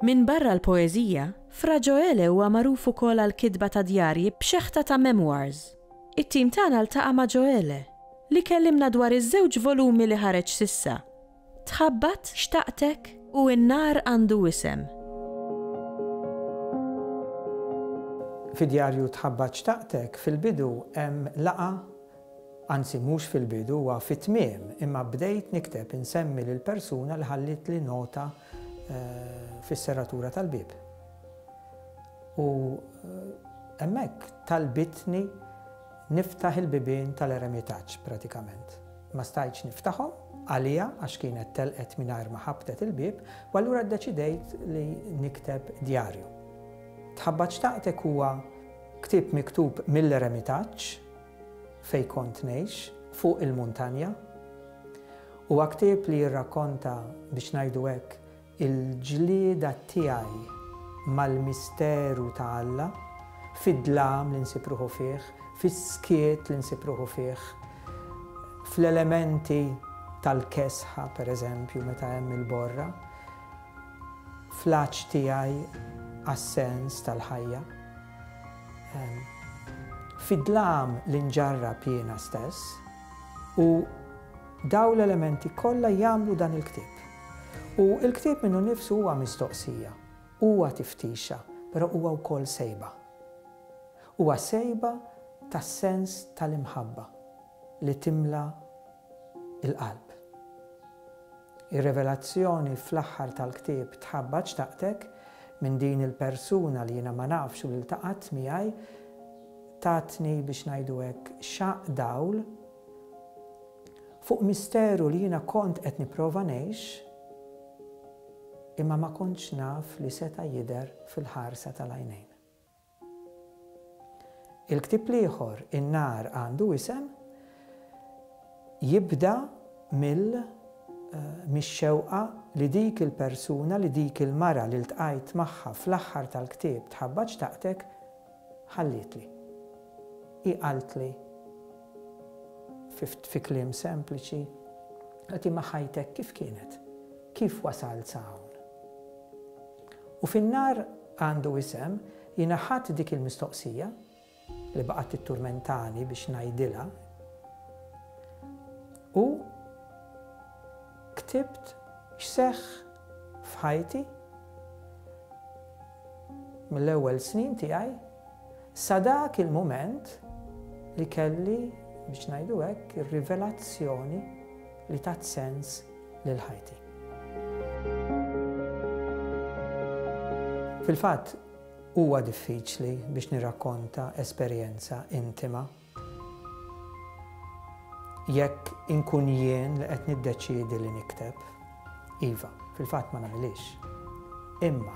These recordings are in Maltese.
Minbarra l-poeżija, Fra Ġoele huwa magħruf ukoll għall-kitba ta' djarji b'xeħta ta' memoirs. It-tim tagħna ltaqa' ma' Ġoele, li kellimna dwar iż-żewġ volumi li ħareġ s'issa, Tħabbat? Xtaqtek? U n-nar għandu isem. Fi djarju Tħabbat xtaqtek fil-bidu hemm laqgħa, anzi mhux fil-bidu huwa fit-tmiem, imma bdejt nikteb insemmi lill-persuna li ħallietli nota fis-serratura tal-bieb. U hemmhekk talbitni Niftaħ il-bibien tal-eremitaġġ, pratikament. Ma stajtx niftaħhom, għaliha għax kienet telqet mingħajr ma ħabbtet il-bieb, u allura ddeċidejt li nikteb djarju. Tħabbat Xtaqtek huwa ktieb miktub mill-eremitaġġ, fejn kont ngħix, fuq il-muntanja. Huwa ktieb li jirrakkonta, biex ngħidu hekk, Il-ġlieda tiegħi mal-misteru ta' Alla, fid-dlam li nsib ruħu fih, fis-skiet li nsib ruħu fih, fl-elementi tal-kesħa, pereżempju, meta hemm il-borra, fl-għatx tiegħi għas-sens tal-ħajja, fid-dlam li nġarrab jiena stess u, Dawn l-elementi kollha jagħmlu dan il-ktieb. U l-ktieb minnu nnifsu huwa mistoqsija, huwa tiftixa, però huwa wkoll sejba. Huwa sejba tas-sens tal-imħabba li timla l-qalb. Ir-revelazzjoni fl-aħħar tal-ktieb tħabbat xtaqtek minn din il-persuna li jiena ma nafx u li ltaqgħet miegħi, tatni biex ngħidu hekk xaqq dawl, fuq misteru li jiena kont qed nipprova ngħix imma ma kontx naf li seta' jidher fil-ħarsa tal-għajnejn. Il-ktieb l-ieħor, In-Nar Għandu Isem, jibda mill mix-xewqa li dik il-persuna, li dik il-mara li ltqajt magħha fl-aħħar tal-ktieb Tħabbatx Taqtek ħallietli. Hi qaltli fi kliem sempliċi, Agħti ma' ħajtek kif kienet, kif wasalt sa hawn. U fin-nar għandu isem, jiena ħadt dik il-mistoqsija li baqgħet titturmentani biex ngħidilha u ktibt x'seħħ f'ħajti mill-ewwel snin tiegħi sa dak il-mument li kelli, biex ngħidu hekk, ir-rivelazzjoni li tat sens lil ħajti. Fil-fatt, huwa diffiċli biex nirrakkonta esperjenza intima Jekk inkun jien li qed niddeċiedi li nikteb, iva, fil-fatt ma nagħmilhiex. Imma,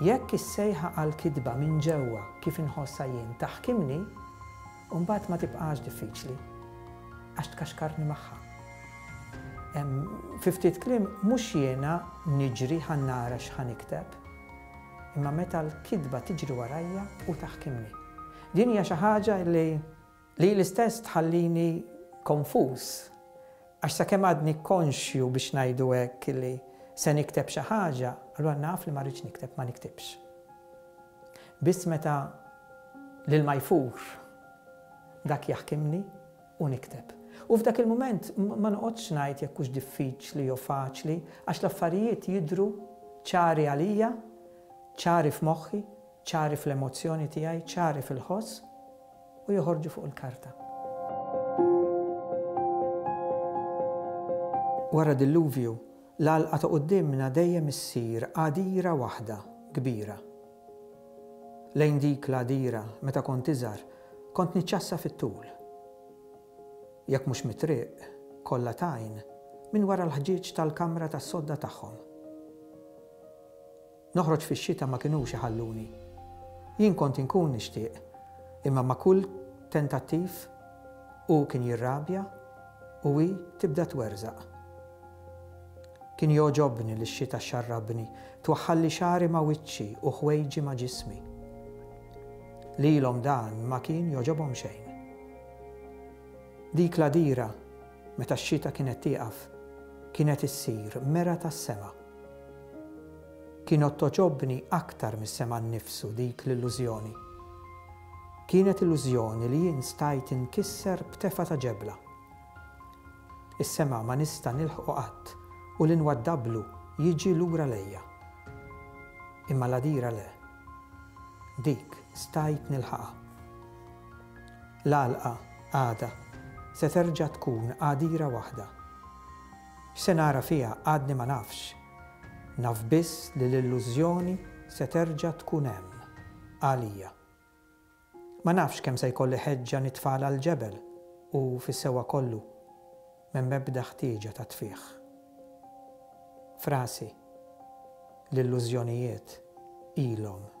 jekk is-sejħa għall-kitba minn ġewwa kif inħossha jien taħkimni, imbagħad ma tibqax diffiċli, għax tkaxkarni magħha. Fi ftit kliem, mhux jiena niġri ħa nara x'ħa nikteb, imma meta l-kitba tiġri warajja u taħkimni. Din hija xi ħaġa li lili stess tħallini konfuż għax sakemm għadni konxju biex ngħidu hekk li se nikteb xi ħaġa, allura naf li ma rridx nikteb, ma niktibx. Biss meta l-ilma jfur dak jaħkimni u nikteb. U f'dak il-mument ma noqgħodx ngħid jekk hux diffiċli jew faċli għax l-affarijiet jidhru ċari għalija, ċari f'moħħi, Ċari fl-emozzjoni tiegħi, ċari fil-ħoss u joħorġu fuq il-karta. Wara dilluvju, l-għalqa ta' quddiemna dejjem issir għadira waħda kbira. Lejn dik l-għadira, meta kont iżgħar, kont niċċassa fit-tul. Jekk mhux mit-triq, kollha t'għajn, minn wara l-ħġieġ tal-kamra tas-sodda tagħhom. Noħroġ fix-xita ma kinux iħalluni. Jien kont inkun nixtieq, imma ma' kull tentattiv hu kien jirrabja u hi tibda twerżaq. Kien jogħġobni li x-xita xxarrabni, twaħħalli xagħri ma' wiċċi u ħwejġi ma' ġismi. Lilhom dan ma kien jogħġobhom xejn. Dik l-għadira, meta x-xita kienet tieqaf, kienet issir mera tas-sema. Kienet togħġobni aktar mis-sema nnifsu dik l-illużjoni. Kienet illużjoni li jien stajt inkisser b'tefgħa ta' ġebla. Is-sema ma nista' nilħqu qatt u li nwaddablu jiġi lura lejja. Imma l-għadira le. Dik stajt nilħaqha. L-għalqa, għada, se terġa' tkun għadira waħda. X'se nara fiha għadni ma nafx. Naf biss li l-illużjoni se terġa' tkun hemm, għalija. Ma nafx kemm se jkolli ħeġġa nitfagħla għall-ġebel u fis-sewwa kollu m'hemm ebda ħtieġa ta' tfigħ. F'rasi, l-illużjonijiet ilhom